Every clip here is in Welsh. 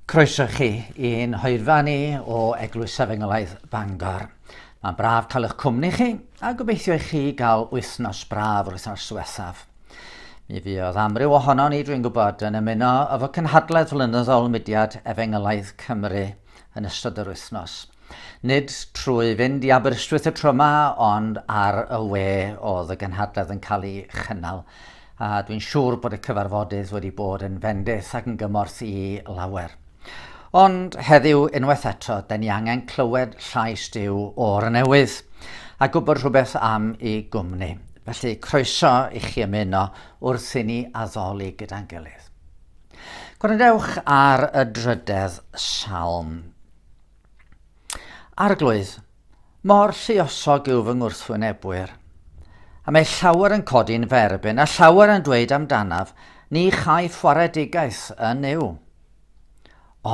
Croeso chi i'n hoedfa ni o Eglwys Efengylaeth Bangor. Mae'n braf cael eich cwmni chi a gobeithio i chi gael wythnos braf o'r wythnos diwethaf. Mi fuodd amryw ohono ni, dwi'n gwybod, yn ymuno efo cynhadledd flynyddol mudiad Efengylaeth Cymru yn ystod yr wythnos. Nid trwy fynd i Aberystwyth y tro yma, ond ar y we oedd y gynhadledd yn cael ei chynnal. A dwi'n siŵr bod y cyfarfodydd wedi bod yn fendith ac yn gymorth i lawer. Ond heddiw, unwaith eto, da ni angen clywed llais Dyw o'r newydd a gwybod rhywbeth am ei gwmni. Felly, croeso i chi ymuno wrth i ni addoli gyda'n gilydd. Gwrandewch ar y drydedd salm. Arglwydd, mor lluosog yw fy ngwrthwynebwyr. A mae llawer yn codi'n ferbyn, a llawer yn dweud amdanaf, ni chai ffaredigaeth yn yw.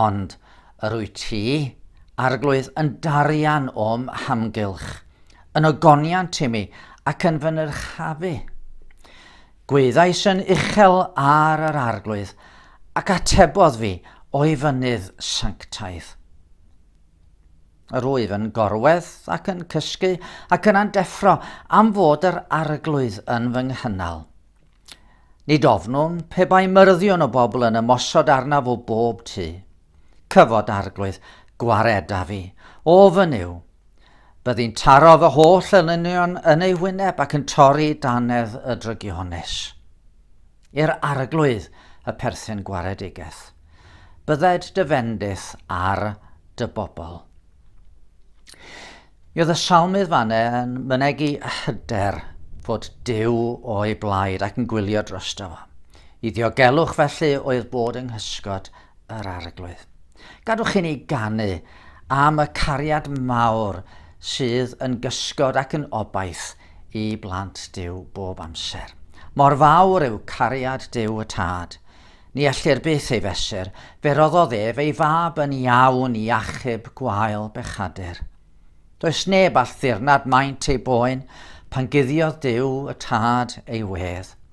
Ond yr wyt ti, arglwydd, yn darian o'm hamgylch, yn ogoniant i mi ac yn fy nyrchafu. Gweithais yn uchel ar yr Arglwydd, ac atebodd fi o'i fynydd sanctaidd. Yr wyf yn gorwedd ac yn cysgu ac yn andeffro am fod yr Arglwydd yn fy nghynnal. Nid ofnwn pe bai myrddio'n o bobl yn ymosod arnaf o bob tu. Cyfod Arglwydd gwared â fi. Ofn yw. Byddi'n taro fy holl elynion yn ei wyneb ac yn torri danedd y drygiones. I'r Arglwydd y perthyn gwaredigeth. Bydded dy fendith ar dy bobl. Mi oedd y salmydd fanne yn mynegu hyder fod Dyw o'i blaid ac yn gwylio drosto fo. I ddiogelwch felly oedd bod yng nghysgod yr Arglwydd. Gadwch i ni ganu am y cariad mawr sydd yn gysgod ac yn obaith i blant Dyw bob amser. Mor fawr yw cariad Dyw y Tad. Ni ellir byth ei fesur, fe roddodd ef ei fab yn iawn i achub gwael bechadur. Does neb all ddirnad maint ei boen pan guddiodd Dyw y Tad ei wedd.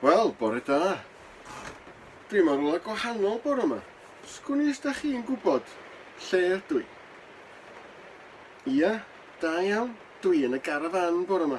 Wel, bore da. Dwi mor rhywle gwahanol bore yma. Sgwn i os da chi'n gwybod lle ydw i? Ia, da iawn. Dwi yn y garafan bore yma.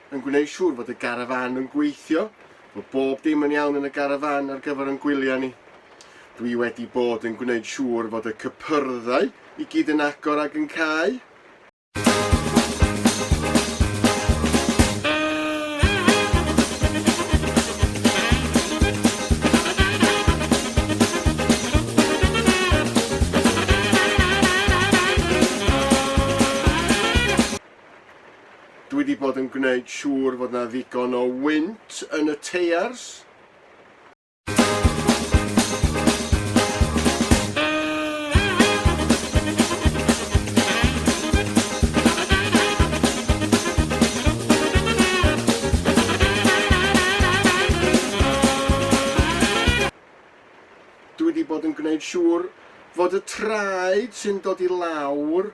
yn gwneud siŵr fod y garafán yn gweithio, bod bob dim yn iawn yn y garafán ar gyfer ein gwyliau ni. Dwi wedi bod yn gwneud siŵr fod y cypyrddau i gyd yn agor ac yn cau. Dwi 'di bod yn gwneud siŵr fod 'na ddigon o wynt yn y teiars. Dwi 'di bod yn gwneud siŵr fod y traed sy'n dod i lawr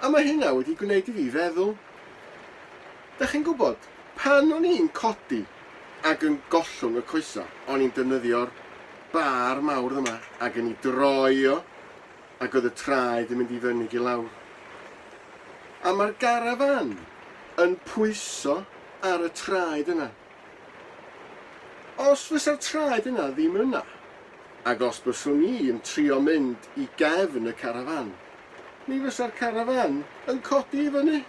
A mae hynna wedi gwneud i fi feddwl. Dach chi'n gwybod, pan o'n i'n codi ac yn gollwng y coesau, o'n i'n defnyddio'r bar mawr yma ac yn ei droi o, ac oedd y traed yn mynd i fyny ac i lawr. A mae'r garafan yn pwyso ar y traed yna. Os fysa'r traed yna ddim yna, ac os byswn i yn trio mynd i gefn y carafán, mi fysa'r carafán yn codi i fyny.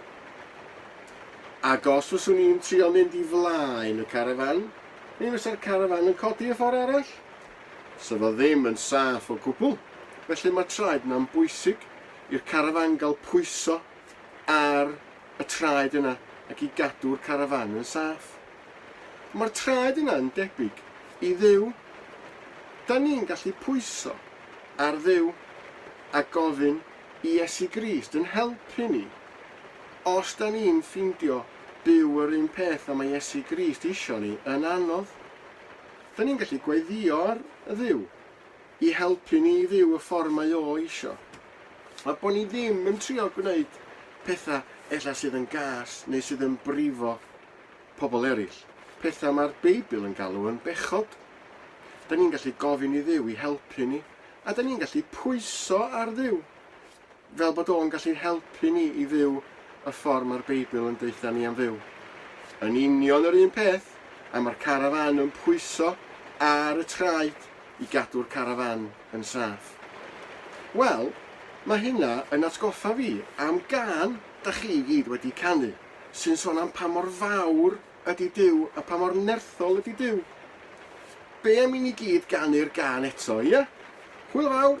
Ac os fyswn i'n trio mynd i flaen y carafán, mi fysa'r carafán yn codi y ffordd arall. Sa fo ddim yn saff o gwbl, felly mae'r traed yna'n bwysig i'r carafán gael pwyso ar y traed yna ac i gadw'r carafán yn saff. Mae'r traed yna yn debyg i Dduw. Da ni'n gallu pwyso ar Dduw a gofyn i Iesu Grist yn helpu ni. Os da ni'n ffindio byw yr un peth a mae Iesu Grist isio ni yn anodd, da ni'n gallu gweddïo ar Dduw. i helpu ni i fyw y ffordd mae o eisio, a bod ni ddim yn trio gwneud pethau ella sydd yn gas neu sydd yn brifo pobl eraill, pethau mae'r Beibl yn galw yn bechod. Da ni'n gallu gofyn i Dduw i helpu ni, a da ni'n gallu pwyso ar Dduw fel bod o'n gallu helpu ni i fyw y ffordd mae'r Beibl yn deutha ni am fyw. Yn union yr un peth am yr carafan yn pwyso ar y traed i gadw'r carafan yn saff. Wel, mae hynna yn atgoffa fi am gan da chi i gyd wedi canu, sy'n son am pa mor fawr ydy Dyw a pa mor nerthol ydy Dyw. Be am i ni gyd ganu'r gan eto, ie? Hwyl fawr!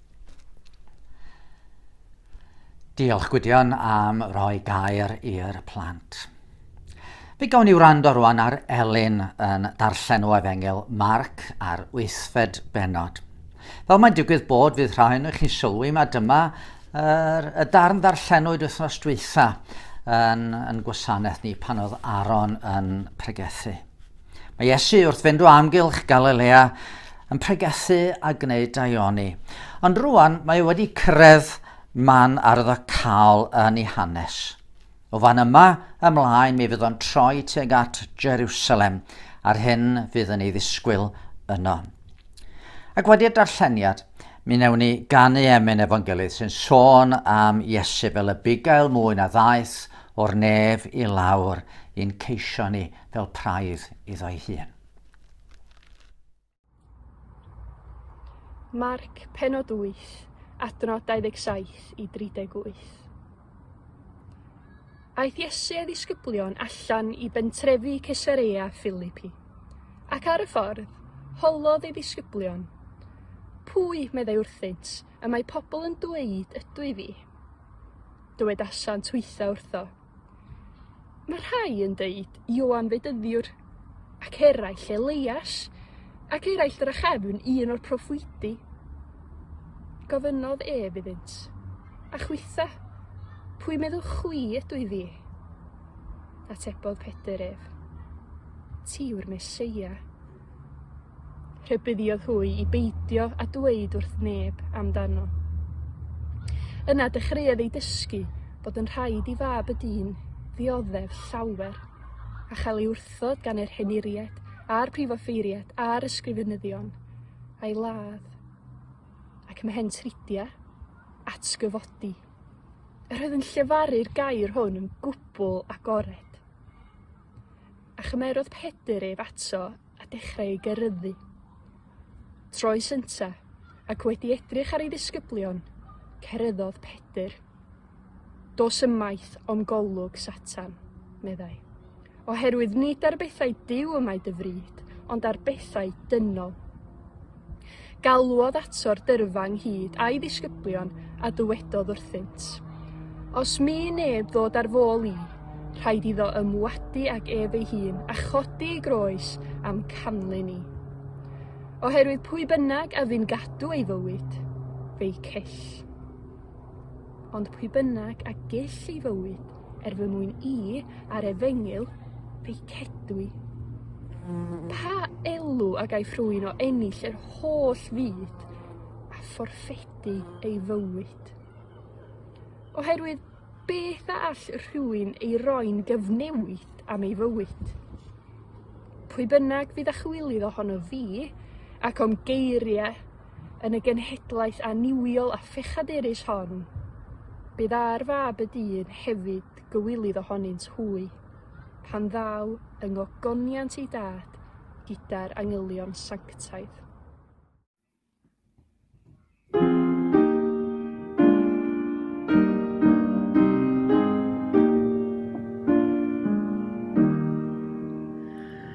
Diolch Gwydion am roi gair i'r plant. Fe gawn ni wrando rwan ar Elin yn darllen o efengyl Marc ar wythfed benod. Fel mae'n digwydd bod fydd rhai nhw chi'n sylwi mae dyma yr, y darn ddarllenwyd wythnos dwytha yn, yn gwasanaeth ni pan oedd Aaron yn pregethu. Mae Iesu wrth fynd o amgylch Galilea yn pregethu a gwneud daioni. Ond rwan mae e wedi cyrraedd man arddocaol yn ei hanes. O fan yma ymlaen mi fydd o'n troi tuag at Jerusalem a'r hyn fydd yn ei ddisgwyl yno. Ac wedi'r darlleniad, mi newn ni ganu emyn efo'n gilydd sy'n sôn am Iesu fel y bugail mwy na ddaeth O'r nef i lawr i'n ceisio ni fel praidd iddo'i hun. Marc, pennod 8, adnod 27 i 38. Aeth Iesu a'i ddisgyblion allan i bentrefi Cesarea Philippi. Ac ar y ffordd, holodd ei ddisgyblion. Pwy, meddai wrthynt, y mae pobl yn dweud ydw i fi? dywedasant hwytha wrtho. Mae rhai yn deud Ioan Fedyddiwr, ac eraill Elias, ac eraill drachefn un o'r proffwydi. Gofynnodd ef iddynt, a chwytha, pwy meddwch chwi ydw i fi? Atebodd Pedr ef, ti yw'r Mesoea. Rhybuddiodd hwy i beidio â dweud wrth neb amdano. Yna dechreuodd ei dysgu bod yn rhaid i fab y dyn ddioddef llawer, a chael ei wrthod gan yr henuriaid a'r prifoffeiriaid a'r ysgrifenyddion a'i ladd, ac mae hen tridia atgyfodi. Yr oedd yn llefaru'r gair hwn yn gwbl agored. A chymerodd Pedr ef ato a dechrau ei geryddu. Troi synta, ac wedi edrych ar ei ddisgyblion, cereddodd Pedr. Dos ymaith o'm golwg, Satan, meddai, oherwydd nid ar bethau Duw y mae dy fryd, ond ar bethau dynol. Galwodd ato'r dyrfa ynghyd a'i ddisgyblion a dywedodd wrthynt, Os mi neb ddod ar fôl i, rhaid iddo ymwadu ag ef ei hun a chodi ei groes am canlyn i. Oherwydd pwy bynnag a fi'n gadw ei fywyd, fe'i cell. Ond pwy bynnag a gell ei fywyd, Er fy mwyn i, ar efengyl, feicedwi. Pa elw a gaiff rhywun o ennill yr holl fyd a phorffedu ei fywyd? Oherwydd beth a all rhywun ei roi'n gyfnewid am ei fywyd? Pwy bynnag fydd â chywilydd ohono fi, ac o'm geiriau yn y genhedlaeth annuwiol a phechadurus hon, bydd ar fab y dyn hefyd gywilydd ohonynt hwy, pan ddaw yng ngogoniant ei dad gyda'r angylion sanctaidd.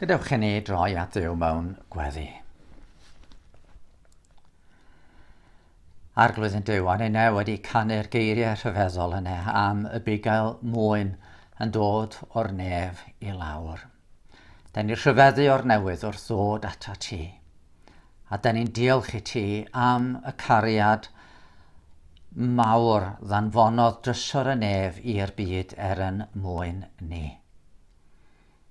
Gadewch i ni droi at Dduw mewn gweddi. Arglwydd yn Duw, ar ei neu wedi canu'r geiriau rhyfeddol yna am y bugail mwyn yn dod o'r nef i lawr. Da ni rhyfeddu o'r newydd wrth ddod ato ti. A dan ni'n diolch i ti am y cariad mawr ddanfonodd drysor y nef i'r byd er yn mwyn ni.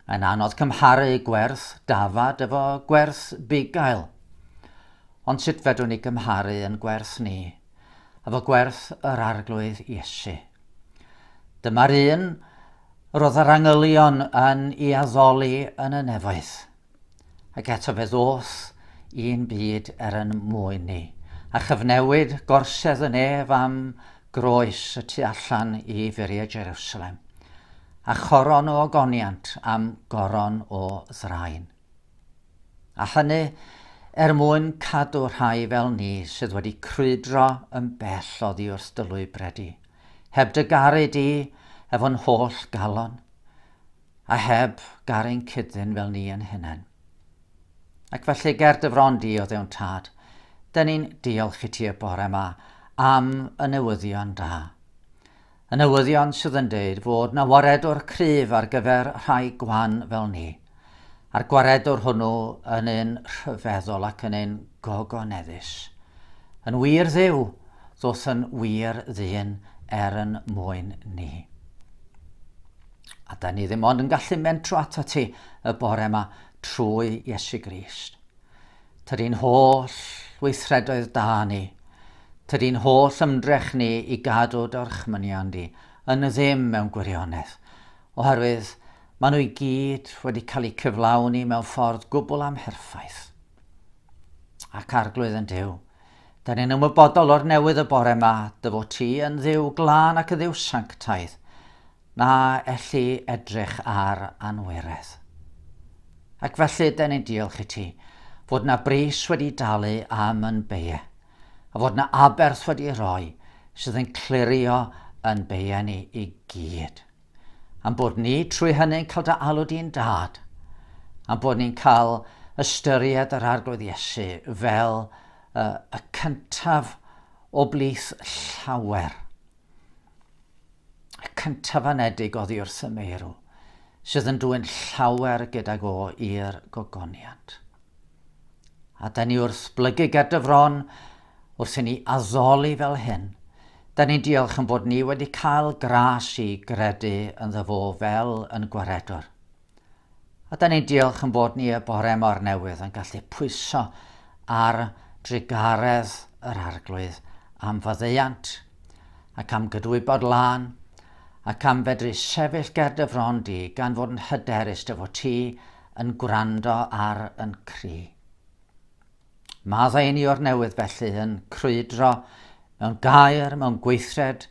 Mae'n anodd cymharu gwerth dafad efo gwerth bugail. Ond sut fedrwn ni gymharu yn gwerth ni efo gwerth yr Arglwydd Iesu? Dyma'r un roedd yr angylion yn ei addoli yn y nefoedd. Ac eto fe ddoth un byd er yn mwyn ni, a chyfnewid gorsedd yn ef am groes y tu allan i furiau Jerusalem, a choron o ogoniant am goron o ddraen. A hynny er mwyn cadw rhai fel ni sydd wedi crwydro yn bell oddi wrth dy lwybredi, heb dy garu di efo'n holl galon, A heb gar ein cyd-ddyn fel ni yn hunain. Ac felly ger dy fron di o ddewn tad, dyn ni'n diolch i ti y bore yma am y newyddion da. Y newyddion sydd yn deud fod na waredwr cryf ar gyfer rhai gwan fel ni. A'r gwaredwr hwnnw yn un rhyfeddol ac yn un gogoneddus. Yn wir ddiw, ddoth yn wir ddyn er yn mwyn ni. A 'dan ni ddim ond yn gallu mentro atat ti y bore yma trwy Iesu Grist. Tydi'n holl weithredoedd da ni, tydi'n holl ymdrech ni i gadw dorchmynion di yn y ddim mewn gwirionedd, oherwydd maen nhw i gyd wedi cael eu cyflawni mewn ffordd gwbl amherffaith. Ac arglwydd yn Dyw, da ni'n ymwybodol o'r newydd y bore yma, dy fod ti yn ddiw glân ac yn ddiw sanctaidd, Na elli edrych ar anweredd. Ac felly, den ni'n diolch i ti, fod na bris wedi dalu am yn beie, a fod na aberth wedi roi sydd yn clirio yn beie ni i gyd. Am bod ni trwy hynny'n cael dy alw di'n dad, am bod ni'n cael ystyried yr arglwydd Iesu fel uh, y cyntaf o blith llawer. Y cyntaf anedig oddi wrth y meirw, sydd yn dwyn llawer gydag o i'r gogoniant. A da ni wrth blygu ger dy fron, wrth i ni addoli fel hyn, da ni'n diolch yn bod ni wedi cael gras i gredu yn ddo fel yn gwaredwr. A da ni'n diolch yn bod ni y bore mor newydd yn gallu pwyso ar drugaredd yr arglwydd am faddeuant ac am gydwybod lân ac am fedru sefyll ger dy fron di gan fod yn hyderus dy fod ti yn gwrando ar yn cri. Maddau ni o'r newydd felly yn crwydro mewn gair, mewn gweithred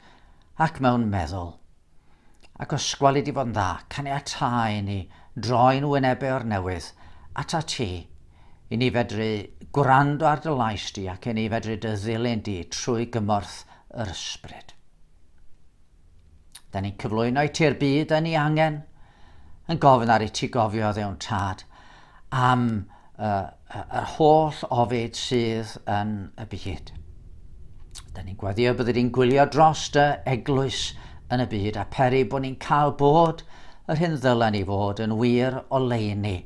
ac mewn meddwl. Ac os gweli di fo'n dda, caniatáu inni droi'n wynebau o'r newydd atat ti, i ni fedru gwrando ar dy lais di ac i ni fedru dy ddilyn di trwy gymorth yr Ysbryd. Da ni'n cyflwyno i ti'r byd yn ei angen, yn gofyn ar i ti gofio ddewn tad, am yr holl ofid sydd yn y byd. Da ni'n gwaddio bod ni'n gwylio dros dy eglwys yn y byd a peri bod ni'n cael bod yr hyn ddylen ni fod yn wir o leini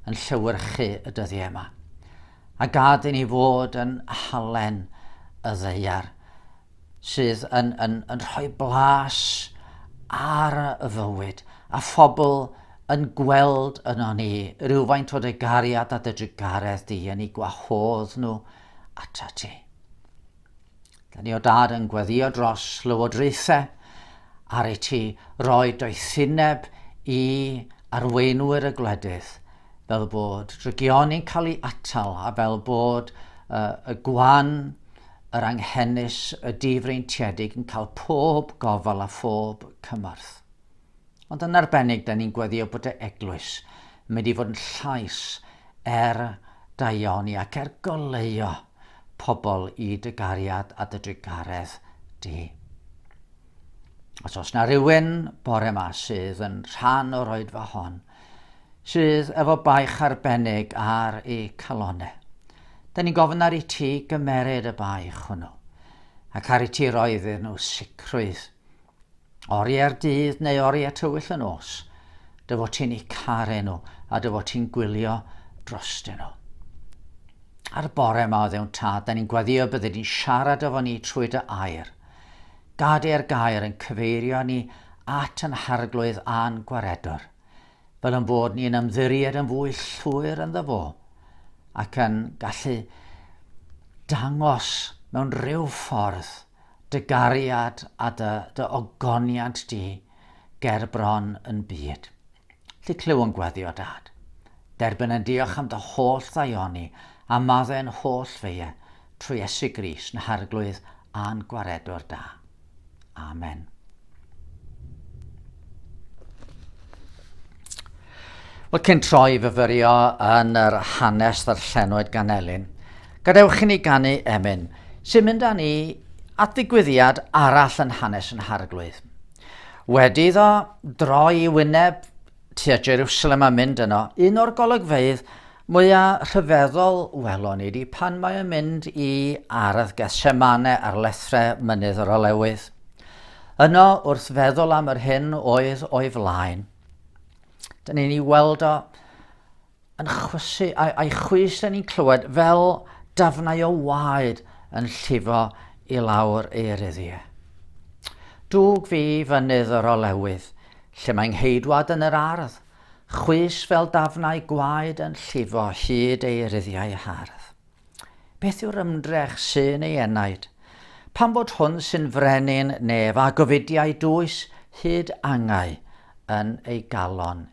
yn llywyrchu y dyddiau yma. A gad i ni fod yn halen y ddeiar sydd yn, yn, yn rhoi blas ar y fywyd, a phobl yn gweld yno ni rhywfaint o dy gariad a dy drugaredd di, yn ei gwahodd nhw ata ti. Da ni o dad yn gweddio dros lywodraethau ar ei ti roi doethineb i arweinwyr y gwledydd fel bod regioni'n cael ei atal a fel bod uh, y gwan Yr Anghenus, y Difreintiedig yn cael pob gofal a phob cymorth. Ond yn arbennig, da ni'n gweddio bod y Eglwys yn mynd i fod yn llais er daioni ac er goleuo pobl i dy gariad a dy drugaredd di. Os oes na rhywun bore ma sydd yn rhan o'r oedfa hon, sydd efo baich arbennig ar ei calonau, da ni'n gofyn ar i ti gymeryd y baich hwnnw, ac ar i ti roi iddyn nhw sicrwydd, oriau'r dydd neu oriau tywyll yn os, dy fod ti'n eu caru nhw a dy fod ti'n gwylio drostyn nhw. Ar y bore yma o ddewn tad, da ni'n gwaddio bydde di'n siarad efo ni trwy dy air, Gadair gair yn cyfeirio ni at yn harglwydd a'n gwaredwr, fel yn fod ni'n ymddiried yn fwy llwyr ynddo fo, ac yn gallu dangos mewn rhyw ffordd dy gariad a dy, dy ogoniant di ger bron yn byd. Ti clyw'n gweddio dad. Derbyn yn diolch am dy holl ddaioni a madde yn holl feie trwy Iesu Grist na harglwydd a'n gwaredwr da. Amen. Wel, cyn troi i fyfyrio yn yr hanes ddarllenwyd gan Elin, gadewch i ni ganu emyn sy'n mynd â ni at ddigwyddiad arall yn hanes yn harglwydd. Wedi iddo droi i wyneb tua Jerusalem a mynd yno, un o'r golygfeydd mwyaf rhyfeddol welon ni di pan mae yn mynd i ardd Gethsemane ar lethrau mynydd yr olewydd. Yno, wrth feddwl am yr hyn oedd o'i flaen, dyn ni'n ei weld o yn chwysu a'i, a'i chwys da ni'n clywed fel dafnau o waed yn llifo i lawr ei eryddie. Dwg fi fynydd yr olewydd, lle mae ngheidwad yn yr ardd, chwys fel dafnau gwaed yn llifo hyd ei ryddiau hardd. Beth yw'r ymdrech sy'n ei enaid? Pan bod hwn sy'n frenin nef a gofidiau dwys hyd angau yn ei galon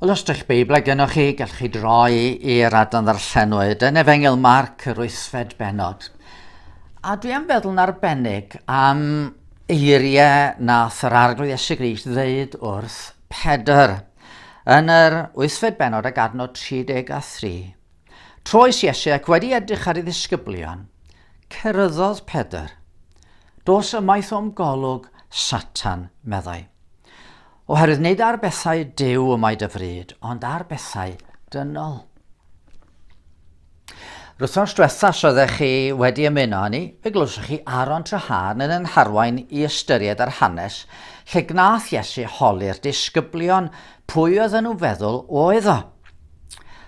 Wel, os dych Beiblau gennych chi, gallwch chi droi i'r adran ddarllenwyd yn Efengil Marc yr wythfed benod. A dwi am feddwl yn arbennig am eiriau nath yr arglwydd Iesu Grist ddeud wrth Pedr yn yr wythfed benod ag adnod 33. Troes Iesu ac wedi edrych ar ei ddisgyblion, cyrraeddodd Pedr. Dos ymaith o'm golwg, Satan, meddai. Oherwydd nid ar bethau Duw y mae dy fryd, ond ar bethau dynol. Rwythnos diwetha os oeddech chi wedi ymuno â ni, fe glywsoch chi Aaron Trahan yn yn harwain i ystyried ar hanes lle gnath Iesu holi'r disgyblion pwy oedd yn nhw feddwl oedd o.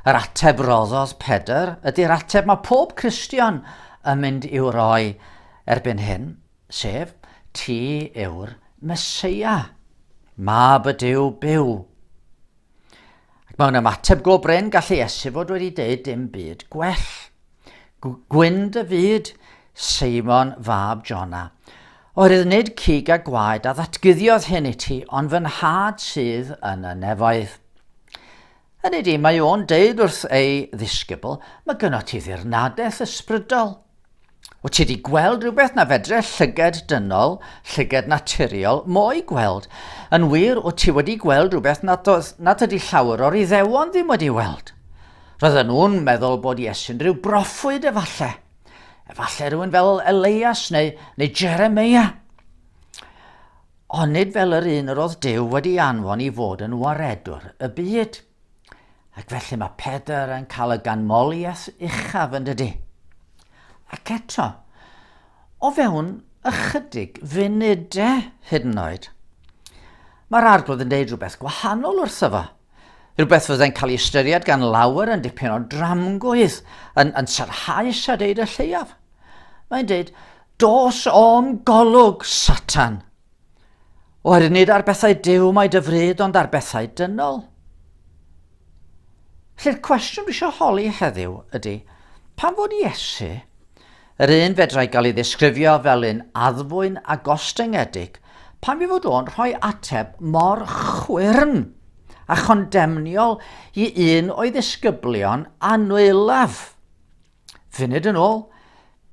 Yr ateb roddodd Pedr ydy'r ateb mae pob Cristion yn mynd i'w roi erbyn hyn. sef, Ti yw'r Meseia, Mab y Duw byw. Ac mewn ymateb go brin, gallu Iesu fod wedi deud dim byd gwell. Gwynd y fyd, Seimon fab Jona, oherwydd nid cig a gwaed a ddatguddiodd hyn i ti, ond fy nhad sydd yn y nefoedd. Hynny ydi, mae o'n deud wrth ei ddisgybl, mae gynnot ti ddirnadaeth ysbrydol. Wyt ti wedi gweld rhywbeth na fedre llyged dynol, llyged naturiol, mo'i gweld? Yn wir, wyt ti wedi gweld rhywbeth nad, oedd, nad ydy llawer o'r iddewon ddim wedi weld? Roedden nhw'n meddwl bod Iesu'n rhyw broffwyd efallai. Efallai rhywun fel Elias neu, neu Jeremia. Onid fel yr un yr oedd Duw wedi ei anfon i fod yn waredwr y byd? Ac felly mae Pedr yn cael y ganmoliaeth uchaf yn dydy. Ac eto, o fewn ychydig funudau hyd yn oed, mae'r arglwydd yn deud rhywbeth gwahanol wrtho fo. Rhywbeth fyddai'n cael ei ystyried gan lawer yn dipyn o dramgwydd, yn, yn sarhaus a deud y lleiaf. Mae'n deud, Dos o'm golwg, Satan! Oherwydd nid ar bethau dew mae dy fryd ond ar bethau dynol. Felly'r cwestiwn dwi eisiau holi heddiw ydy, pan fod Iesu, yr un fedrai gael ei ddisgrifio fel un addfwyn a gostyngedig, pan fi fod o'n rhoi ateb mor chwyrn a chondemniol i un o'i ddisgyblion anwylaf? Funud yn ôl,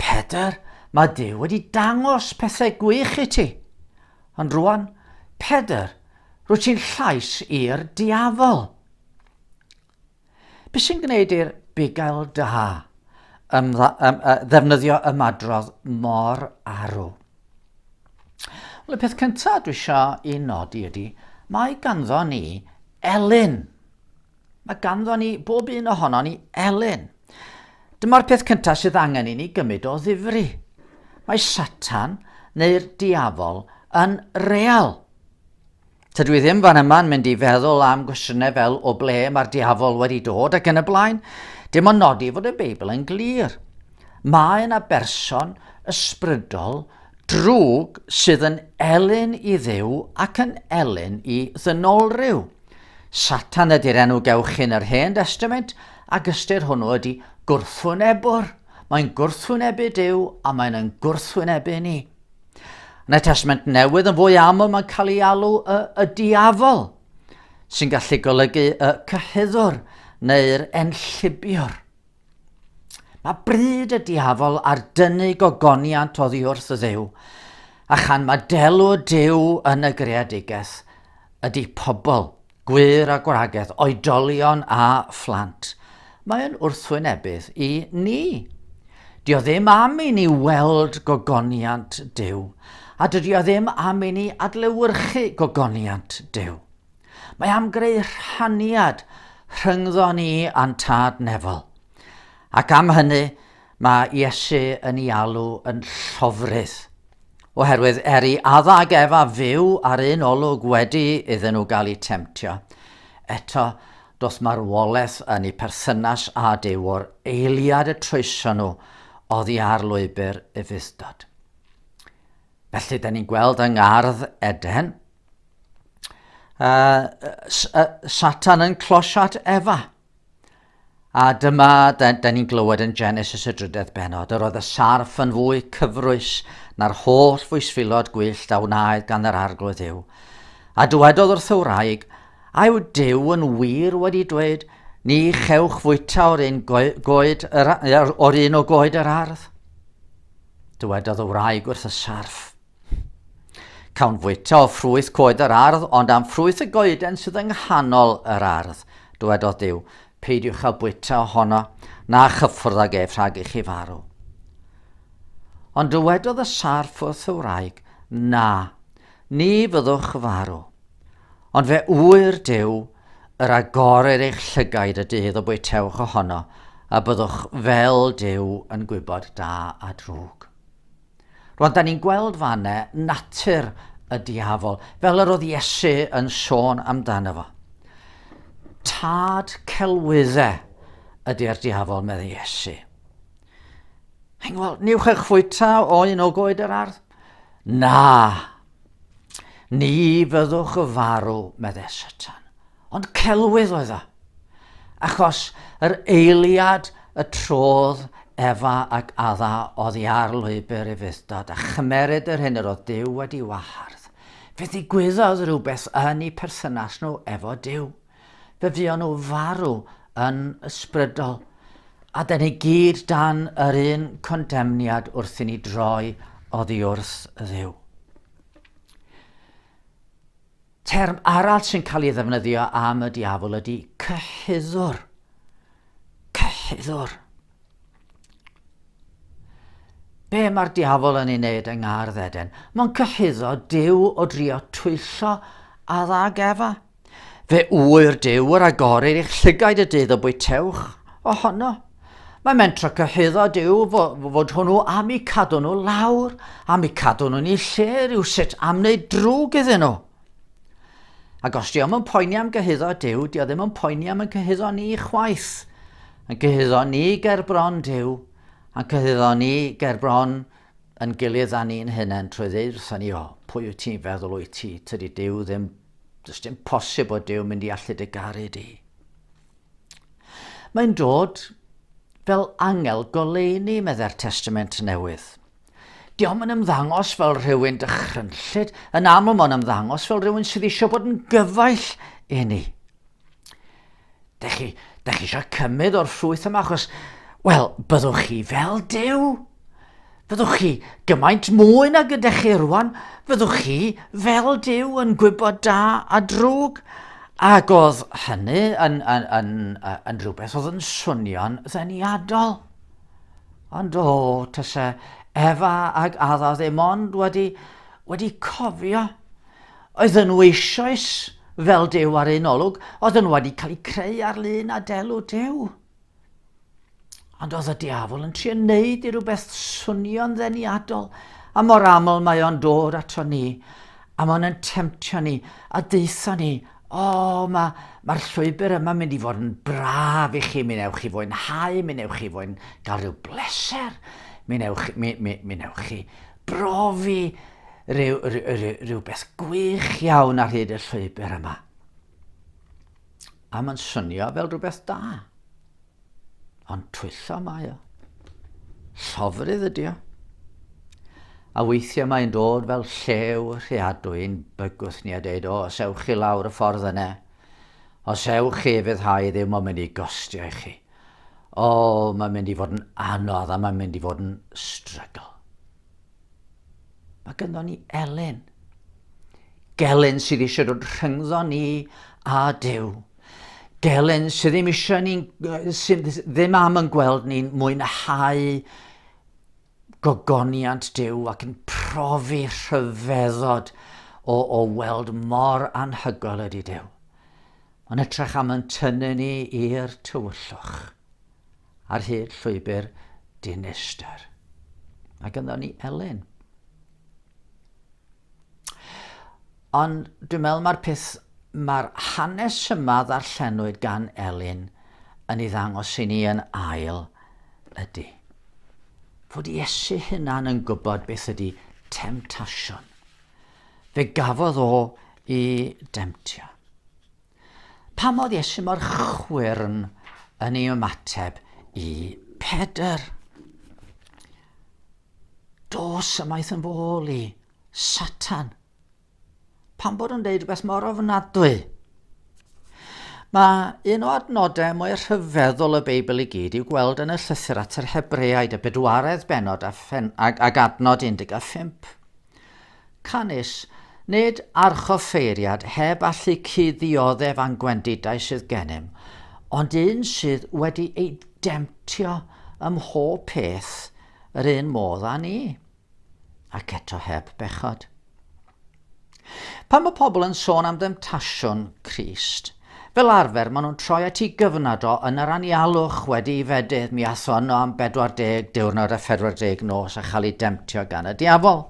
Pedr, mae Dyw wedi dangos pethau gwych i ti. Ond rwan, Pedr, rwy ti'n llais i'r diafol. Be sy'n gwneud i'r bugail da ym, ym, ddefnyddio ymadrodd mor arw? Wel, y peth cyntaf dwi eisiau i nodi ydy, mae ganddo ni Elin. Mae ganddon ni, bob un ohonon ni, elyn. Dyma'r peth cyntaf sydd angen i ni gymryd o ddifri. Mae Satan, neu'r diafol, yn real. Tydw i ddim fan yma'n mynd i feddwl am gwestiynau fel o ble mae'r diafol wedi dod ac yn y blaen. Dim ond nodi fod y Beibl yn glir. Mae yna berson ysbrydol Drwg sydd yn elyn i Dduw ac yn elyn i ddynolryw. Satan ydy'r enw gewch chi'n yr Hen Destament, ac ystyr hwnnw ydy gwrthwynebwr. Mae'n gwrthwynebu Duw a mae'n yn gwrthwynebu ni. Yn y Testament Newydd yn fwy aml mae'n cael ei alw y, y diafol, sy'n gallu golygu y cyhuddwr neu'r enllibiwr. Mae bryd y diafol ar dynnu gogoniant oddi wrth y ddew, a chan mae delw dew yn y greadigaeth, ydy pobl, gwir a gwragedd, oedolion a phlant. Mae'n wrthwynebydd i ni. Dio ddim am i ni weld gogoniant Duw, a dydio ddim am i ni adlewyrchu gogoniant Duw. Mae am greu rhaniad rhyngddo ni a'n Tad Nefol. Ac am hynny, mae Iesu yn ei alw yn llofrudd. Oherwydd er i Adda ac Efa fyw ar un olwg wedi iddyn nhw gael eu temtio, eto doth marwolaeth yn eu perthynas â Duw o'r eiliad y troeso nhw oddi ar lwybr ufudd-dod. Felly, da ni'n gweld yng ngardd Eden, uh, uh, Satan yn closio at Efa. A dyma, da, da ni'n glywed yn Genesis y drydedd benod, yr oedd y sarff yn fwy cyfrwys na'r holl fwysfilod gwyllt a wnaed gan yr arglwydd yw. A dywedodd wrth y wraig, a yw Dyw yn wir wedi dweud, ni chewch fwyta o'r un, goed, yr, o'r un o goed yr ardd? Dywedodd y wraig wrth y sarff, Cawn fwyta o ffrwyth coed yr ardd, ond am ffrwyth y goeden sydd yng nghanol yr ardd. Dywedodd Dyw, peidiwch â bwyta ohono, na chyffwrdd ag ef rhag i chi farw. Ond dywedodd y sarff wrth y wraig, na, ni fyddwch farw. Ond fe ŵyr Dyw, yr agorir eich llygaid y dydd y bwytewch ohono, a byddwch fel Dyw yn gwybod da a drwg. Rwan, da ni'n gweld fanne natur y diafol, fel yr oedd Iesu yn sôn amdano fo. Tad celwyddau ydy'r diafol, meddai Iesu. Hyn, wel, niwch eich fwyta o un o goed yr ardd? Na, ni fyddwch y farw, meddai Satan. Ond celwydd oedd o. Achos yr eiliad y trodd Efa ac Adda oddi ar lwybr ei fuddtod a chymeryd yr hyn yr oedd Duw wedi wahardd, fe ddigwyddodd rhywbeth yn eu perthynas nhw efo Duw. Fe fuon nhw farw yn ysbrydol. A da ni gyd dan yr un condemniad wrth i ni droi oddi wrth Dduw. Term arall sy'n cael ei ddefnyddio am y diafol ydy cyhuddwr. Cyhuddwr. Be mae'r diafol yn ei wneud yng ngardd Eden? Mae'n cyhuddo Dyw o drio twyllo a dda gefa. Fe ŵyr Dyw yr agorir i'ch llygaid y dydd y bwytewch ohono. Mae mentra cyhuddo yw fod hwnnw am i cadw nhw lawr, am i cadw nhw'n ei lle rhyw sut am wneud drwg iddyn nhw. Ac os diolch yn poeni am gyhuddo Dyw, diolch ddim yn poeni am y cyhuddo ni chwaith. Yn cyhuddo ni ger bron Dyw, a'n cyhuddo ni ger bron yn gilydd a ni'n hynna'n trwy ddeud wrthyn ni, o, pwy wyt ti'n feddwl wyt ti? Tydi Dyw ddim, does dim posib o Dyw mynd i allu dy garu di. Mae'n dod fel angel goleuni, meddai'r Testament Newydd. Diom yn ymddangos fel rhywun dychrynllyd, yn aml mae'n ymddangos fel rhywun sydd eisiau bod yn gyfaill i ni. Da chi, da chi eisiau cymryd o'r ffrwyth yma achos, wel, byddwch chi fel dew. Fyddwch chi gymaint mwy nag ydych chi rwan, fyddwch chi fel Dyw yn gwybod da a drwg. Ac oedd hynny yn, yn, yn, yn rhywbeth oedd yn swnio'n ddeniadol. Ond o, tysa Efa ac Adda ddim ond wedi, wedi cofio. Oedd nhw eisoes fel Dyw ar un olwg, oedd nhw wedi cael eu creu ar lun a delw Dyw. Ond oedd y diafol yn trio wneud i rhywbeth swnio'n ddeniadol, a mor aml mae o'n dod ato ni, a mae'n yn temtio ni, a deitha ni, o, oh, mae'r ma, ma llwybr yma mynd i fod yn braf i chi, mi newch chi fwynhau, mi newch chi fwyn gael rhyw bleser, mi newch, mi, mi, mi newch chi brofi rhyw, rhyw, rhyw, rhyw beth gwych iawn ar hyd y llwybr yma. A mae'n synio fel rhywbeth da. Ond twyllo mae o. Llofrydd ydy o. A weithiau mae'n dod fel llew rheadwy i'n bygwth ni a deud, o, os ewch chi lawr y ffordd yna, os ewch chi fydd hau ddim mae'n mynd i gostio i chi. O, mae'n mynd i fod yn anodd a mae'n mynd i fod yn strygl. Mae gynddon ni Elin. Gelyn sydd eisiau dod rhyngddo ni a Dyw. Gelyn sydd ddim eisiau ni, sydd ddim am yn gweld ni'n mwynhau gogoniant Dyw ac yn profi rhyfeddod o, o weld mor anhygoel ydy Dyw. Mae'n ytrach am yn tynnu ni i'r tywyllwch. Ar hyd llwybr dinestr. Mae gynddon ni Elin. Ond dwi'n meddwl mae'r peth, mae'r hanes yma ddarllenwyd gan Elin yn ei ddangos i ni yn ail ydy fod Iesu hunan yn gwybod beth ydy temtasiwn. Fe gafodd o i demtio. Pam oedd Iesu mor chwyrn yn ei ymateb i Pedr? Dos ymaith yn fôl i Satan. Pam bod yn deud rhywbeth mor ofnadwy? Mae un o adnodau mwy rhyfeddol y Beibl i gyd i'w gweld yn y llythyr at yr Hebreaid, y bedwaredd benod a, phen, ag, ag adnod 15. Canys, nid archoffeiriad heb allu cuddioddef a'n gwendidau sydd gennym, ond un sydd wedi ei demtio ym mhob peth yr un modd â ni, ac eto heb bechod. Pan mae pobl yn sôn am ddemtasiwn Crist, Fel arfer, maen nhw'n troi at y gyfnod o yn yr anialwch wedi i fedydd mi athrono am 40 diwrnod a 40 nos a chael ei demtio gan y diafol.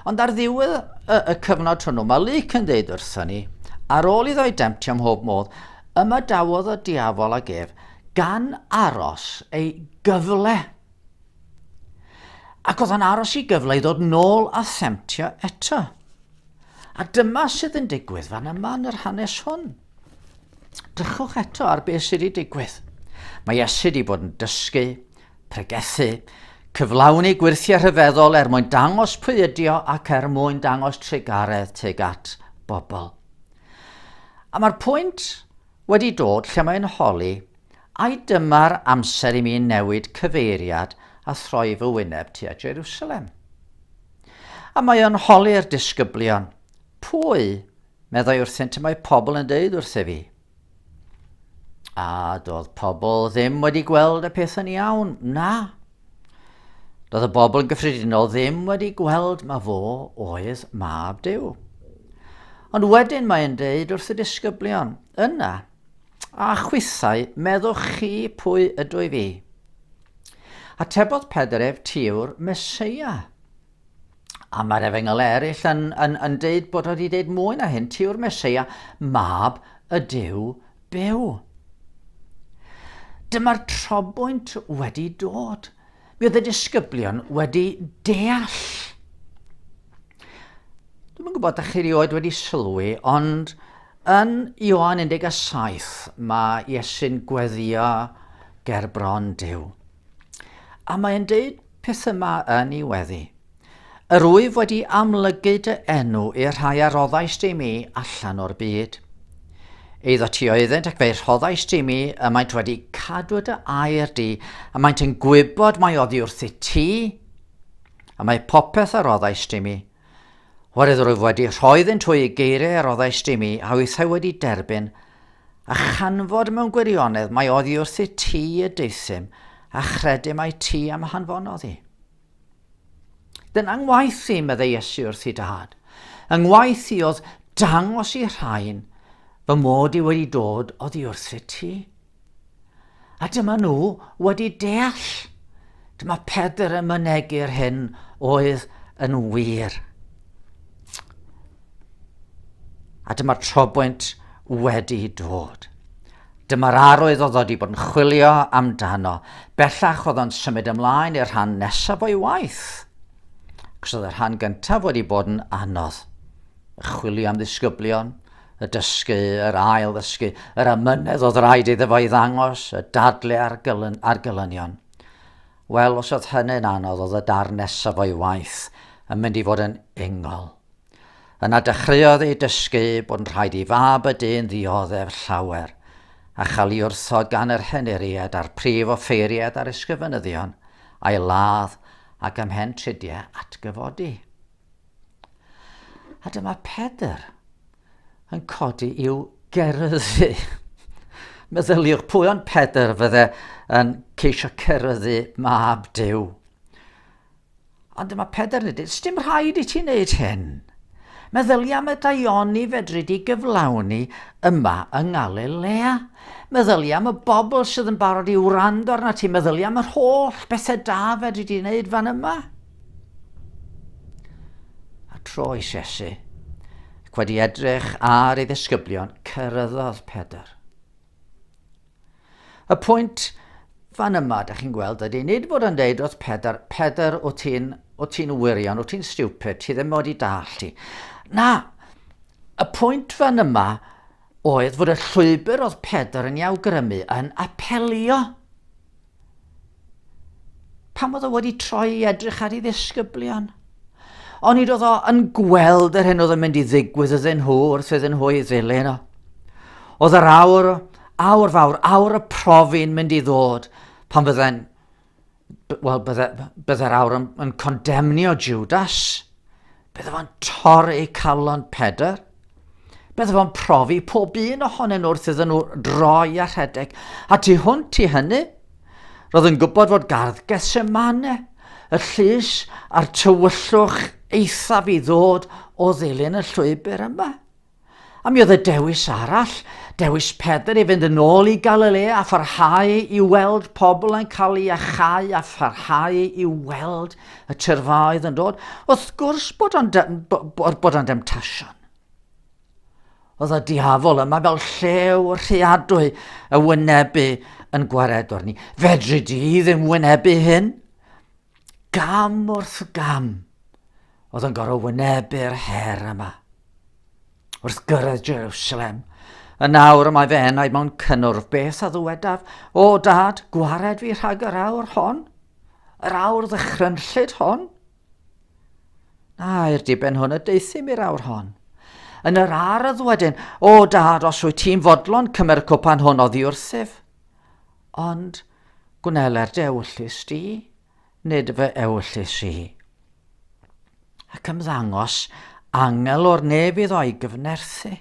Ond ar ddiwedd y, y cyfnod hwnnw, mae Luc yn dweud wrthyn ni, ar ôl iddo ei demtio am hob modd, ymadawodd y diafol ag ef gan aros ei gyfle. Ac oedd yn aros i gyfle i ddod nôl a themtio eto. A dyma sydd yn digwydd fan yma yn yr hanes hwn. Drychwch eto ar beth sydd wedi digwydd. Mae Iesu wedi bod yn dysgu, pregethu, cyflawni gwirthiau rhyfeddol er mwyn dangos pwy ydi o ac er mwyn dangos trugaredd tuag at bobl. A mae'r pwynt wedi dod lle mae yn holi, ai dyma'r amser i mi newid cyfeiriad a throi fy wyneb tua Jerusalem? A mae o'n holi'r disgyblion, pwy, meddai wrthynt y mae pobl yn deud wrthyf fi? A doedd pobl ddim wedi gweld y peth yn iawn, na, Doedd y bobl yn gyffredinol ddim wedi gweld mae fo oedd mab Duw. Ond wedyn mae'n deud wrth y disgyblion, yna, a chwithau, meddwch chi pwy ydw i fi? Atebodd Pedr ef, tiw'r Mesoea. A mae'r efengyl eraill yn, yn, yn deud bod wedi deud mwy na hyn, ti yw'r Mesoea, mab y Dyw byw. Dyma'r trobwynt wedi dod. Mi oedd y disgyblion wedi deall. Dwi'n gwybod da chi rioed wedi sylwi, ond yn Ioan 17 mae Iesu'n gweddio ger bron Dyw. A mae'n deud peth yma yn ei weddi. Yr wyf wedi amlygu dy enw i'r rhai a roddais di mi allan o'r byd. Eiddo ti oeddynt ac fe rhoddais di mi y maent wedi cadw dy air di, a maent yn gwybod mae oddi wrth i ti, a mae popeth a roddais di mi, Wraidd rwyf wedi rhoi ddynt hwy i geiriau a roddais i mi a wythau wedi derbyn, a chanfod mewn gwirionedd mae oddi wrthi ti y deuthum, a chredu mai ti am hanfonodd i. Dyna ngwaith i, meddai Iesu wrthi dad. Yng ngwaith i oedd dangos i rhain fy mod i wedi dod oddi wrthi ti. A dyma nhw wedi deall. Dyma Pedr yn mynegu'r hyn oedd yn wir. A dyma'r trobwynt wedi dod. Dyma'r arwydd oedd wedi bod yn chwilio amdano. Bellach oedd o'n symud ymlaen i'r rhan nesaf o'i waith. Cos oedd y rhan gyntaf wedi bod yn anodd. Chwilio am ddisgyblion, y dysgu, yr ail-ddysgu, yr amynedd oedd rhaid iddo fo i ddangos y dadle ar, gylyn, ar gylynion. Wel, os oedd hynny'n anodd, oedd y darn nesaf o'i waith yn mynd i fod yn ingol. Yna dechreuodd ei dysgu bod yn rhaid i fab y dyn ddioddef llawer, a chael ei wrthod gan yr henuried a'r prif offeiried a'r ysgrifenyddion, a'i ladd ac ymhen tridiau atgyfodi. A dyma Pedr yn codi i'w geryddu. Meddyliwch pwy ond Pedr fydde yn ceisio ceryddu mab Dyw. Ond dyma Pedr yn dweud, sdim rhaid i ti wneud hyn. Meddylia am y daioni fedri di gyflawni yma yng Ngalilea. Meddylia am y bobl sydd yn barod i wrando arna ti. Meddylia am yr holl bethau da fedri di wneud fan yma. A tro i Sesi, ac wedi edrych ar ei ddisgyblion, cyrraeddodd Pedr. Y pwynt fan yma, da chi'n gweld, ydy nid bod yn deud wrth Pedr, Pedr, o ti'n o ti'n wirion, o ti'n stupid, ti ddim wedi dall ti. Na, y pwynt fan yma oedd fod y llwybr oedd Pedr yn ei awgrymu yn apelio Pam oedd o wedi troi i edrych ar ei ddisgyblion? Onid oedd o yn gweld yr hyn oedd yn mynd i ddigwydd ydyn nhw wrth iddyn nhw ei ddilyn o? Oedd yr awr, awr fawr, awr y profi'n mynd i ddod pan fydden wel, byddai'r awr yn, yn condemnio Judas. Byddaf fo'n torri eu calon pedr. Byddaf fo'n profi pob un ohonyn nhw wrth iddyn nhw droi a rhedeg. A tu hwnt i hynny, roedd yn gwybod fod gardd Gethsemane, y llys a'r tywyllwch eithaf i ddod o ddilyn y llwybr yma. A mi oedd y dewis arall, dewis Pedr i fynd yn ôl i Galilea a pharhau i weld pobl yn cael ei achau a pharhau i weld y tyrfaoedd yn dod. Wrth gwrs bod o'n bod o'n demtasiwn. Oedd y diafol yma fel llew rheadwy y wynebu yn gwaredwr ni. Fedri di ddim wynebu hyn? Gam wrth gam, oedd yn gorfod wynebu'r her yma. Wrth gyrraedd Jerusalem, y nawr mae fe enau mewn cynnwrf beth a ddywedaf, o dad, gwared fi rhag yr awr hon, yr awr ddychrynllyd hon. Na, i'r diben hwn y deithim i'r awr hon. Yn yr ardd wedyn, o dad, os wyt ti'n fodlon cymer y cwpan hwn oddi wrthyf. Ond gwneler dewllus di, nid fy ewyllys i. Ac ymddangos angel o'r nef iddo i gyfnerthu.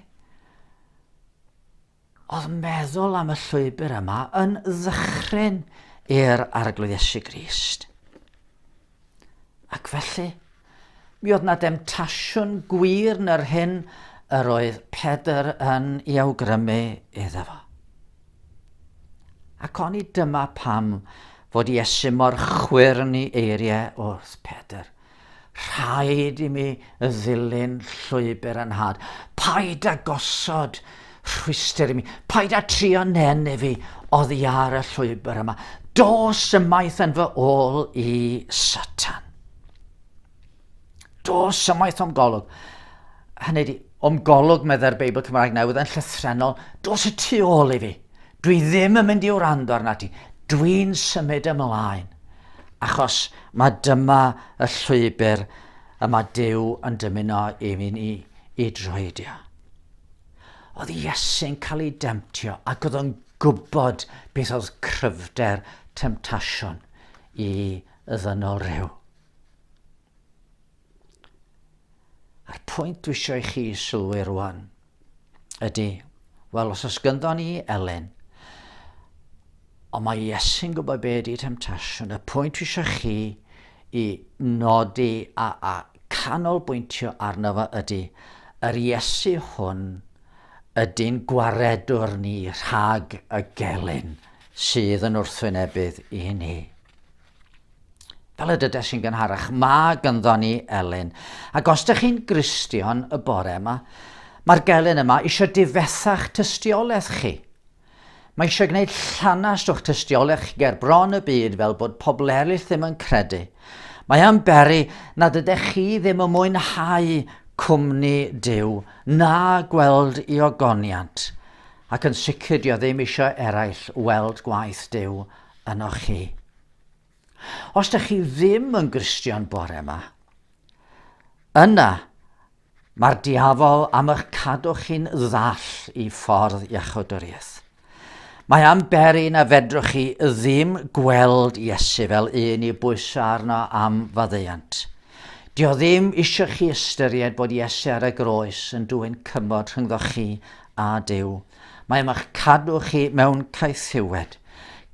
Oedd meddwl am y llwybr yma yn ddychryn i'r Arglwydd Iesu Grist. Ac felly, Mi oedd 'na demtasiwn gwir nyr hyn yr oedd Pedr yn i awgrymu iddo fo. Ac oni dyma pam fod Iesu mor chwyrn i eiriau wrth Pedr. Rhaid i mi ddilyn llwybr yn had. Paid â gosod rhwystr i mi. Paid â trio nen i fi oddi ar y llwybr yma. Dos ymaith yn fy ôl i Satan. Dos ymaith o'm golwg. Hynny di, o'm golwg, meddai'r Beibl Cymraeg Newydd yn llythrenol, dos y tu ôl i fi. Dwi ddim yn mynd i wrando arna ti. Dwi'n symud ymlaen. Achos mae dyma y llwybr y mae Dyw yn dymuno i mi ni i droedio. Oedd Iesu'n cael ei demtio ac oedd o'n gwybod beth oedd cryfder temtasiwn i y ddynol rhyw. A'r pwynt dwi eisiau i chi sylwi rwan ydy, wel os oes gynddo ni Elen, ond mae Iesu'n gwybod be ydy temtasiwn, y pwynt dwi eisiau chi i nodi a, a canolbwyntio arno fo ydy, yr Iesu hwn ydy'n gwaredwr ni rhag y gelyn sydd yn wrthwynebydd i ni. Fel y dydes sy'n gynharach, mae gynddo ni elyn. Ac os ydych chi'n gristion y bore yma, mae'r gelyn yma eisiau difethach tystiolaeth chi. Mae eisiau gwneud llanast o'ch tystiolaeth ger bron y byd fel bod pobl eraill ddim yn credu. Mae am beri nad ydych chi ddim yn mwynhau cwmni Duw na gweld i ogoniant, ac yn sicr dio ddim eisiau eraill weld gwaith Duw ynoch chi. Os da chi ddim yn Gristion bore yma, yna mae'r diafol am eich cadw chi'n ddall i ffordd iachawdwriaeth. Mae am beri na fedrwch chi ddim gweld Iesu fel un i bwyso arno am faddeuant. Dio ddim eisiau chi ystyried bod Iesu ar y groes yn dwyn cymod rhyngddo chi a Dyw. Mae am eich cadw chi mewn caethiwed.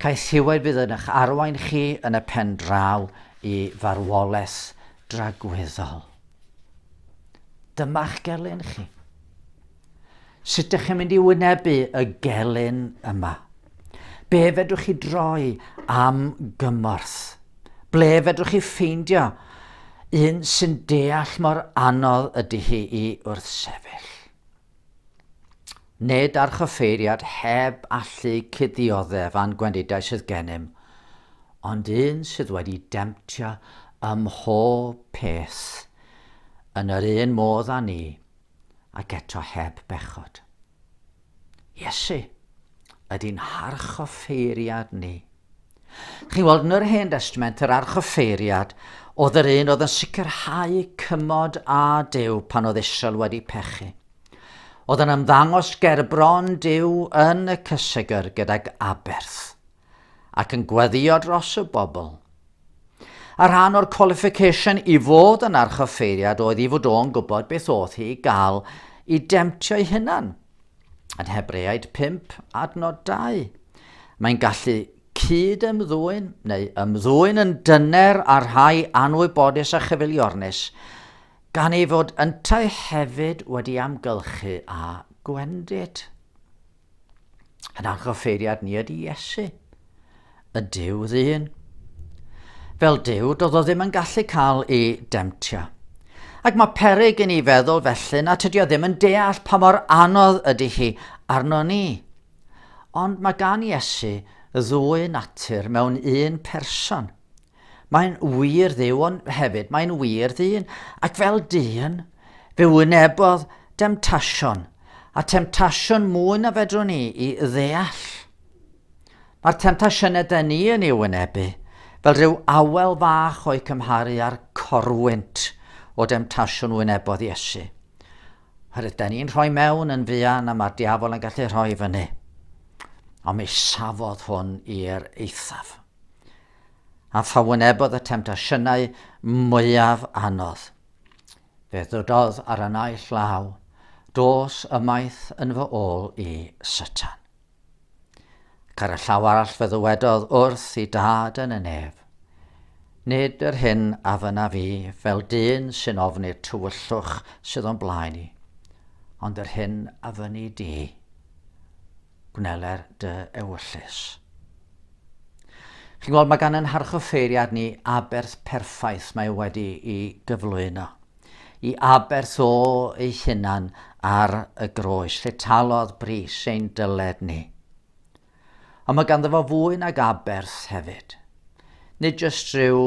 Caethiwed fydd yn eich arwain chi yn y pen draw i farwolaeth dragwyddol. Dyma'ch gelyn chi. Sut ydych chi'n mynd i wynebu y gelyn yma? Be fedrwch chi droi am gymorth? Ble fedrwch chi ffeindio un sy'n deall mor anodd ydy hi i wrth sefyll? Nid archoffeiriad heb allu cuddioddef a'n gwendidau sydd gennym, ond un sydd wedi demtio ym mhob peth yn yr un modd â ni, ac eto heb bechod. Iesu ydy'n harchoffeiriad ni. Chi weld, yn yr Hen Destament, yr archoffeiriad oedd yr un oedd yn sicrhau cymod a Dyw pan oedd Israel wedi pechu. Oedd yn ymddangos gerbron Dyw yn y cysegr gydag aberth ac yn gweddio dros y bobl. A rhan o'r qualification i fod yn archoffeiriad oedd i fod o'n gwybod beth oedd hi i gael i demtio'i hunan, Yn Hebreaid 5, adnod 2, mae'n gallu cyd ymddwyn neu ymddwyn yn dyner a rhai anwybodus a chyfeiliornus, gan ei fod yntau hefyd wedi amgylchu a gwendid. Yn anghofeiriad ni ydy Iesu, Y Duw ddyn. Fel Duw, doedd o ddim yn gallu cael ei demtio. Ac mae perig i ni feddwl felly na tydio ddim yn deall pa mor anodd ydy hi arno ni. Ond mae gan Iesu ddwy natur mewn un person. Mae'n wir dduw, ond hefyd mae'n wir ddyn, ac fel dyn, fe wynebodd demtasiwn, a temtasiwn mwy na fedrwn ni i ddeall. Mae'r temtasiynau dyn ni yn ei wynebu, fel rhyw awel fach o'i cymharu â'r corwynt o demtasiwn wynebodd Iesu. Oherwydd dyn ni'n rhoi mewn yn fuan a mae'r diafol yn gallu rhoi fyny. Ond mi safodd hwn i'r eithaf. a pha wynebodd y temtasiynau mwyaf anodd. Fe ddydodd ar y naill law, dos ymaith yn fy ôl i, Satan. Ac ar y llaw arall fe ddywedodd wrth i dad yn y nef, Nid yr hyn a fyna fi fel dyn sy'n ofni'r tywyllwch sydd o'n blaen i, ond yr hyn a fyny di. gwnele'r dy ewyllys. Chi'n gweld, mae gan yn harchoffeiriad ni aberth perffaith mae wedi i gyflwyno. I aberth o ei hunan ar y groes, lle talodd bris ein dyled ni. Ond mae ganddo fo fwy nag aberth hefyd. Nid jyst rhyw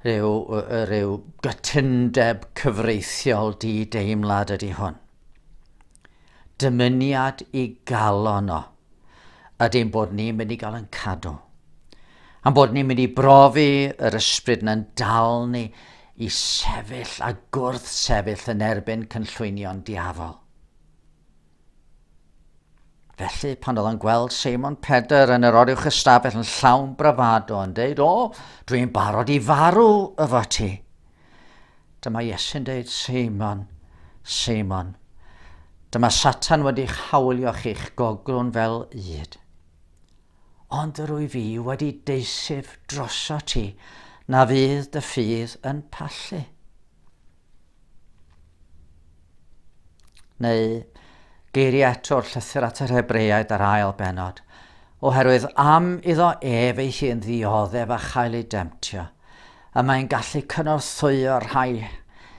rhyw, rhyw gytundeb cyfreithiol di-deimlad ydy hwn. Dymuniad i galon o ydy ein bod ni'n mynd i gael yn cadw. A'n bod ni'n mynd i brofi yr ysbryd na'n dal ni i sefyll a gwrth sefyll yn erbyn cynllwynion diafol. Felly, pan oedd o'n gweld Seimon Pedr yn yr oriwch ystafell yn llawn brafado yn deud, O, dwi'n barod i farw efo ti. Dyma Iesu'n deud, Seimon, Seimon, dyma Satan wedi'ch hawlio chi'ch goglwn fel ŷd. Ond rwy fi wedi deisif droso ti, na fydd dy ffydd yn pallu. Neu geiriau eto'r llythyr at yr Hebreaid ar ail benod, oherwydd am iddo ef ei hun ddioddef a chael ei demtio, y mae'n gallu cynorthwyo rhai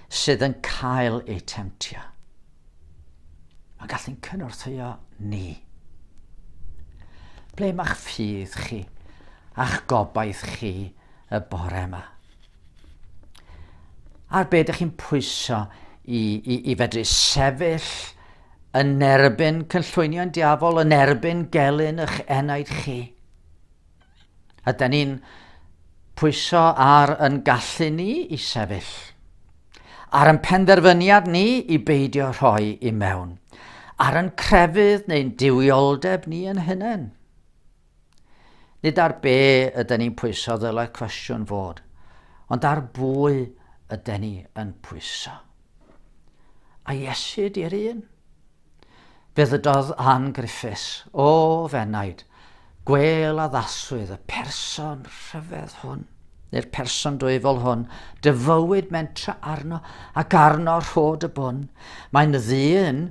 sydd yn cael eu temtio. Mae'n gallu'n cynorthwyo ni. Ble mae'ch ffydd chi a'ch gobaith chi y bore yma? Ar beth ydych chi'n pwyso i, i, i fedru sefyll yn erbyn cynllwynion diafol, yn erbyn gelyn eich enaid chi? Yden ni'n pwyso ar yn gallu ni i sefyll, ar yn penderfyniad ni i beidio rhoi i mewn, ar yn crefydd neu'n duwioldeb ni yn hunain. Nid ar be yden ni'n pwyso ddylai cwestiwn fod, ond ar bwy yden ni yn pwyso. A Iesu di'r un. Fe ddydodd Ann Griffiths, o Fenaid, Gwêl addaswyd y person rhyfedd hwn, neu'r person dwyfol hwn, dyfywyd mentra arno ac arno rhod y bwn. Mae'n ddyn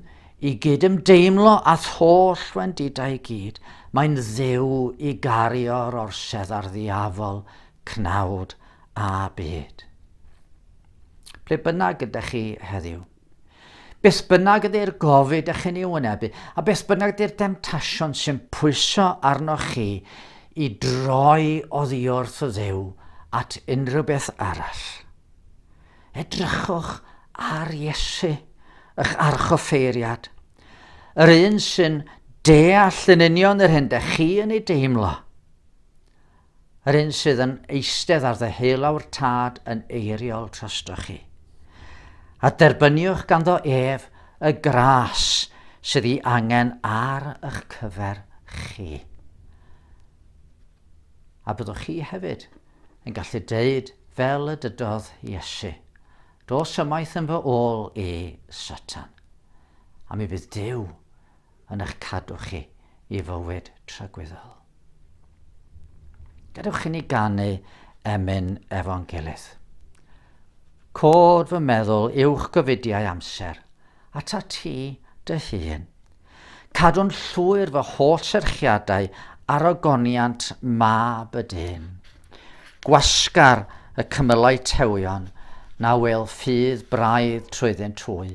i gyd ymdeimlo a'th holl wendidau i gyd. Mae'n ddew i gario'r orsedd ar ddiafol, cnawd a byd. Ble bynnag ydych chi heddiw? Beth bynnag ydy'r gofid ych chi'n ei wynebu, a beth bynnag ydy'r demtasiwn sy'n pwyso arnoch chi i droi oddiwrth Dduw at unrhyw beth arall, edrychwch ar Iesu, ych archoffeiriad, yr un sy'n deall yn union yr hyn dych chi yn ei deimlo, Yr un sydd yn eistedd ar ddeheulawr Tad yn eiriol trostoch chi. A derbyniwch ganddo ef y gras sydd ei angen ar eich cyfer chi. A byddwch chi hefyd yn gallu deud fel y dydodd Iesu, Dos ymaith yn fy ôl i, Satan. A mi fydd Duw yn eich cadw chi i fywyd tragwyddol. Gadewch i ni ganu emyn efo'n gilydd. Cod fy meddwl uwch gyfidiau amser, ata ti dy hun. Cadw'n llwyr fy holl serchiadau ar ogoniant mab y dyn. Gwasgar y cymylau tewion na wel ffydd braidd trwyddynt hwy,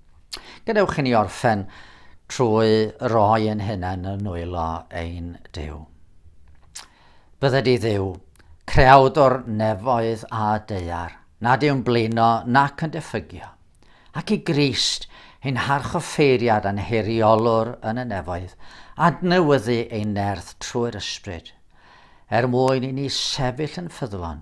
Gadewch i ni orffen trwy roi ein hunain yn nwylo ein Dyw. Bydde di ddiw, creawdwr nefoedd a deiar, nad yw'n blino nac yn diffygio, ac i Grist, ein harchoffeiriad a'n heriolwr yn y nefoedd, adnewyddu ein nerth trwy'r ysbryd, er mwyn i ni sefyll yn ffyddlon,